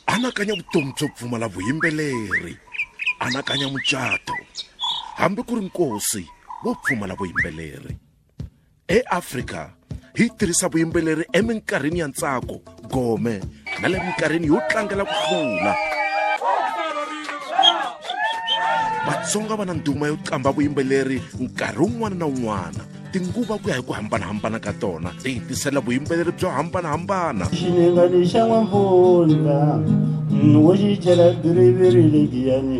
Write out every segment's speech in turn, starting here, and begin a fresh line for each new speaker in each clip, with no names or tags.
anakanya vutomi byo pfumala vuyimbeleri anakanya mucato hambi ku ri nkosi wo pfumala vuyimbeleri eafrika hi tirhisa vuyimbeleri eminkarhini ya ntsako gome na le minkarhini yo tlangela ku hlula vatsonga va na nduma yo qambha vuyimbeleri nkarhi wun'wana na wun'wana tinguva ku ya hi ku hambanahambana ka tona ti hi tisela vuyimbeleri byo hambanahambana xinengani xa n'wampfundla wo xi chela biriviri lebiyani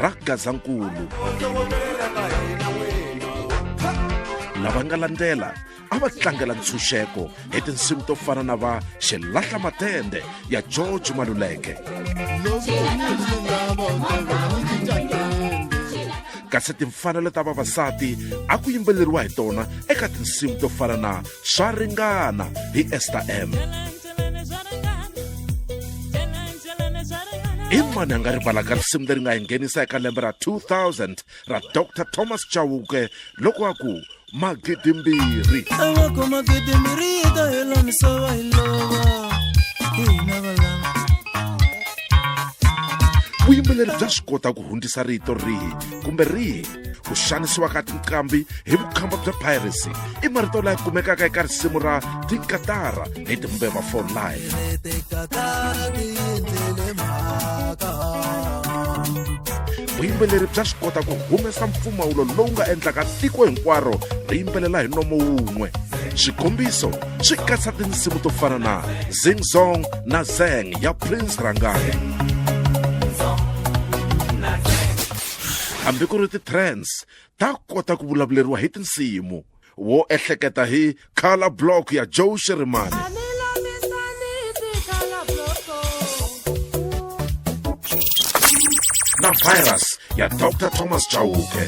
ra gazankulu lava nga landzela a va tlangela ntshunxeko hi tinsimu to fana na va xilahla matende ya george maluleke kasi timfanelo ta vavasati a ku yimbeleriwa hi tona eka tinsimu to fana na swa ringana hi ester m i mani a nga rivalaka risimu leri nga hi nghenisa eka lembe ra 2000 ra dr thomas chauke loko a ku magidimbirhi awako magidimbirhi yi ta hela misava hi lova hina valama vuyimbeleri bya swi kota ku hundzisa rito rihi kumbe rihi ku xanisiwa ka tinqambi hi vukhamba bya piracy i marito laya kumekaka eka risimu ra tinkatara hi timbeva for life vuyimbeleri bya swi kota ku humesa mpfumawulo lowu nga endlaka tiko hinkwaro ri yimbelela hi nomo wun'we xikombiso swi katsa tinsimu to fana na zing zong na zeng ya prince rangani Hambi ku ri ti trends ta kota ku vulavuleriwa hi tinsimu. Wo ehleketa hi Color Block ya Joe Shirimani. na virus ya dr thomas chauke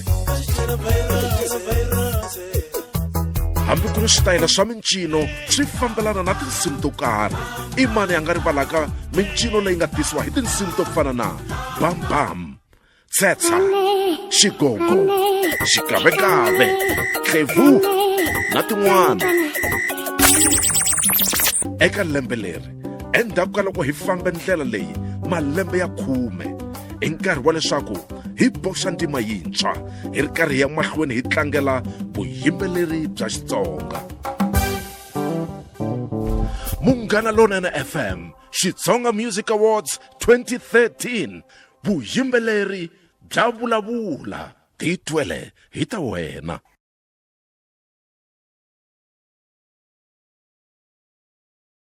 hambi ku ri switayela swa mincino swi fambelana na tinsimu to karhi i mani a nga rivalaka mincino leyi nga tisiwa hi tinsimu to fana na bambam tshetsa xigogo xikavekave tlevu na tin'wana eka lembe leri endzhaku ka loko hi fambe ndlela leyi malembe ya khume i nkarhi wa leswaku hi boxa ntima yintshwa hi ri karhi ya mahlweni hi tlangela vuyimbeleri bya xitsonga munghana lonene fm xitsonga music awards 2013 Vuyimbeleri bya vulavula ti twele hi ta wena.